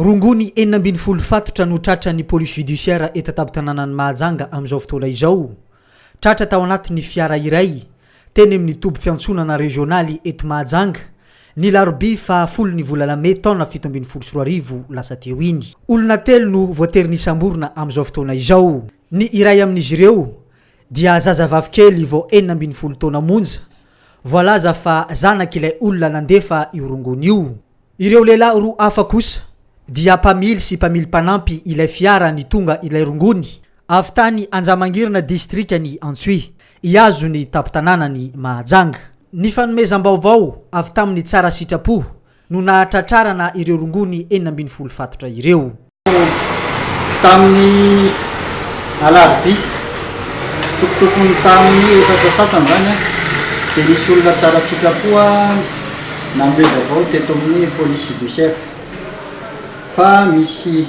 Rongony enina ambin'ny folo fatotra no tratran'ny Police Judiciaire eto an-tampon-tanànan'i Mahajanga amin'izao fotoana izao. Tratra tao anatin'ny fiara iray, teny amin'ny toby fiantsonana rezionaly eto Mahajanga, ny alarobia faha folo ny volana mey taona fito ambin'ny folo sy roa arivo lasa teo iny. Olona telo no voatery nisamborina amin'izao fotoana izao. Ny iray amin'izy ireo dia zazavavy kely vao enina ambin'ny folo taona monja, Voalaza fa zanak'ilay olona nandefa io rongony io. Ireo lehilahy roa hafa kosa dia mpamily sy mpamily mpanampy ilay fiara nitonga ilay rongony, avy tany Anjamangirina distrikan'i Antsohihy, ihazon'ny tampon-tanànan'i Mahajanga. Ny fanomezam-baovao avy tamin'ny tsara sitrapo no nahatratrarana ireo rongony enina ambin'ny folo fatotra ireo. Tamin'ny alarobia, tokotokony tamin'ny efatra sasany izany, dia nisy olona tsara sitrapo nanome vaovao teto amin'ny police judiciaire fa misy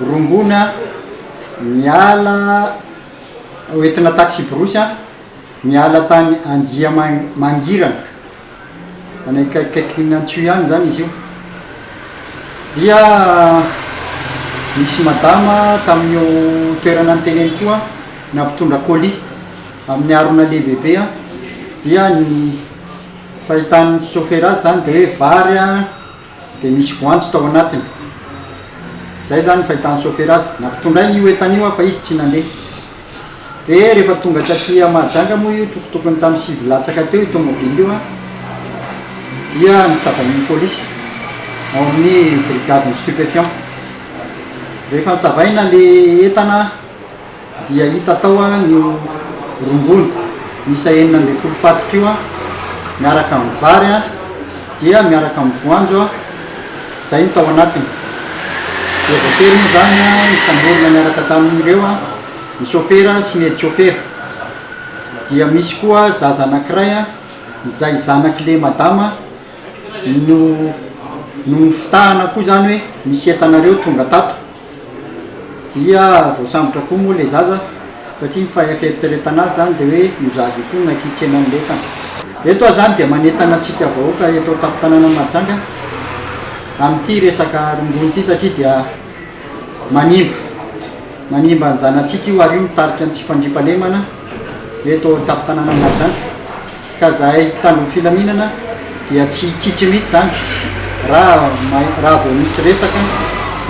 rongony niala, entina taxi-brousse, niala tany Anjiamangirana. any akaikikaikin'ny Antio ihany izany izy io, dia nisy madama tamin'io toerana niteneniko io an, nampitondra colis amin'ny harona lehibebe an, dia ny fahitany sôfera azy izany dia hoe vary an. Dia nisy voanjo tao anatiny. Izay izany ny fahitan'i Sôfera azy. Nampitondrainy io entana io fa izy tsy nandeha. Dia rehefa tonga taty Mahajanga moa io tokotokony tamin'ny sivy latsaka teo io tômôbily io an, dia nosavain'ny pôlisy ao amin'ny brigade ny stupéfiant. Rehefa nosavaina ilay entana dia hita tao an io rongony miisa enina ambin'ny folo fatotra io an, miaraka amin'ny vary an, dia miaraka amin'ny voanjo an, izay no tao anatiny. Dia voatery moa izany an nisamborina niaraka tamin'ireo an ny sôfera sy ny edi-tsôfera. Dia misy koa zaza anankiray an, izay zanak'ilay madama no no nofitahana koa izany hoe misy entanareo tonga tato. Dia voasambotra koa moa ilay zaza satria ny fieritreretana azy izany dia hoe io zaza io koa nankitsena an'ilay entana. Eto aho izany dia manentana antsika vahoaka eto an-tampon-tanànan'i Mahajanga amin'ity resaka rongony ity satria dia manimba, manimba ny zanatsika io ary io mitarika ny tsy fandriampahalemana eto an-tampon-tanànan'i Mahajanga. Ka zahay mpitandron'ny filaminana dia tsy hitsitsy mihitsy izany raha raha vao misy resaka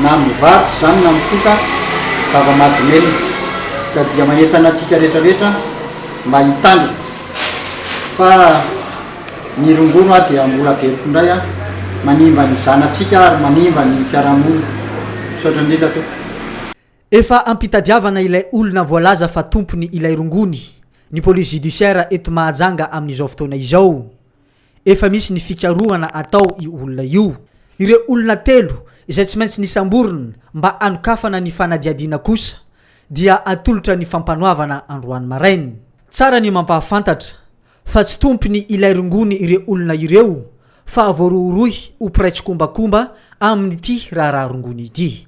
na amin'ny varotra izany na mifoka zava-mahadomelina ka dia manentana antsika rehetra rehetra mba hitandrina fa ny rongony hoa dia mbola very k'indray an, manimba ny zanatsika ary manimba ny fiarahamonina. Misaotra indrindra tompoko. Efa ampitadiavana ilay olona voalaza fa tompony ilay rongony ny police judiciaire eto Mahajanga amin'izao fotoana izao. Efa misy ny fikarohana atao io olona io. Ireo olona telo izay tsy maintsy nisamborina mba hanokafana ny fanadihadiana kosa dia atolotra ny fampanoavana androany maraina. Tsara ny mampahafantatra fa tsy tompony ilay rongony ireo olona ireo fa voarohirohy ho mpiray tsikombakomba amin'ity raharaha rongony ity.